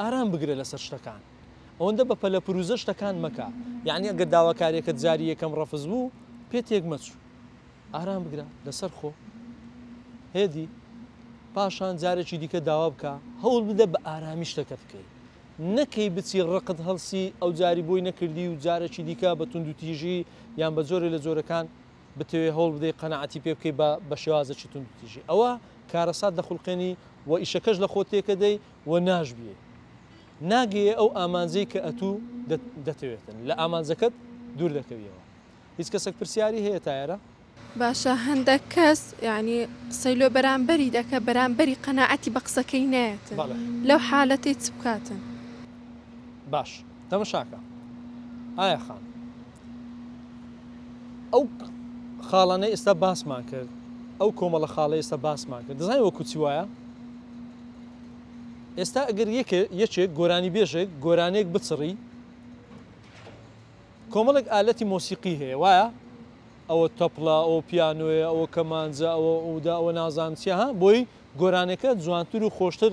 ئارام بگرە لەسەر شتەکان ئەوەندە بە پەلە پروزە شتەکان مەکە یانی ئەگەر داواکاریەکەت جاری یەکەم ڕەفز بوو پێ تێک مەچوو ئارام بگرە لەسەر خۆ هێدی پاشان جارێکی دیکە داوا بکە هەوڵ بدە بە ئارامی شتەکە بکەی نەکەی بچی ڕقت هەڵسی ئەو جاری بۆی نەکردی و جارێکی دیکە بە تونند و تیژی یان بە جۆرە لە جۆرەکان بتەوێ هەوڵ بدەی قەنەعاتی پێ بکەی بە بە شێوازەکی تونند و تیژی ئەوە کارەسات دەخولقێنی و ئیشەکەش لە خۆ تێکەدەی و ناشبیێ ناگەیێ ئەو ئامانجەی کە ئەتوو دەتەوێتن لە ئامانجەکەت دوور دەکەویەوە هیچ کەسەک پرسیاری هەیە تایەرە؟ باشە هەندەک کەس یانی قسەی لۆ بەرامبەری دەکە بەرامبەری قەناعەتی بە قسەکەی نایەتن لەو حالەتەی چ بکاتن؟ باش تەمەشاکە ئایا خان ئەو خاڵانەی ئێستا باسمان کرد ئەو کۆمەڵە خاڵی ئێستا باسمان کرد دەزانانی وەکو چی وایە ئێستا ئەگەر یەکێک گۆرانی بێژێک گۆرانێک بچڕی کۆمەڵێک ئالەتی مۆسیقی هەیە وایە ئەوە تەپڵە ئەو پیانۆیە ئەوە کەمانجە ئەوە ئەودا ئەوە نازانچە ها بۆی گۆرانەکە جوانتر و خۆشتر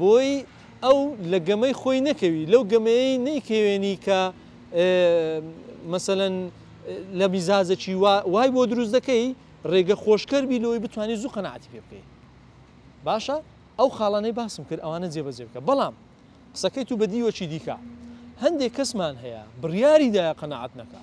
بۆی ئەو لە گەمەی خۆی نەکەوی لەو گەمەیەی نەیکەوێنی کە مەسەلەن لە میزاجەکی وای بۆ دروست دەکەی ڕێگە خۆشکەر بی لەوەی بتانی زوو قەنەعاتی پێ بکەی باشە ئەو خاڵانەی باسم کرد ئەوانە جێبەجێ بکە بەڵام قسەکەی تو بە دیوەکی دیکە هەندێک کەسمان هەیە بڕیاریدایە قەنەعات نەکا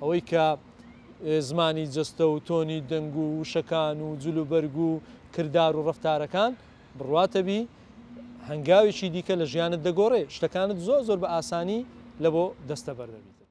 ئەوەی کە زمانی جەستە و تۆنی دەنگ و وشەکان و جل و بەرگ و کردار و ڕفتارەکان بڕواتەبی هەنگاوێکی دیکە لە ژیانت دەگۆڕێ شتەکانت زۆر زۆر بە ئاسانی لە بۆ دەستە بەردەبیتن.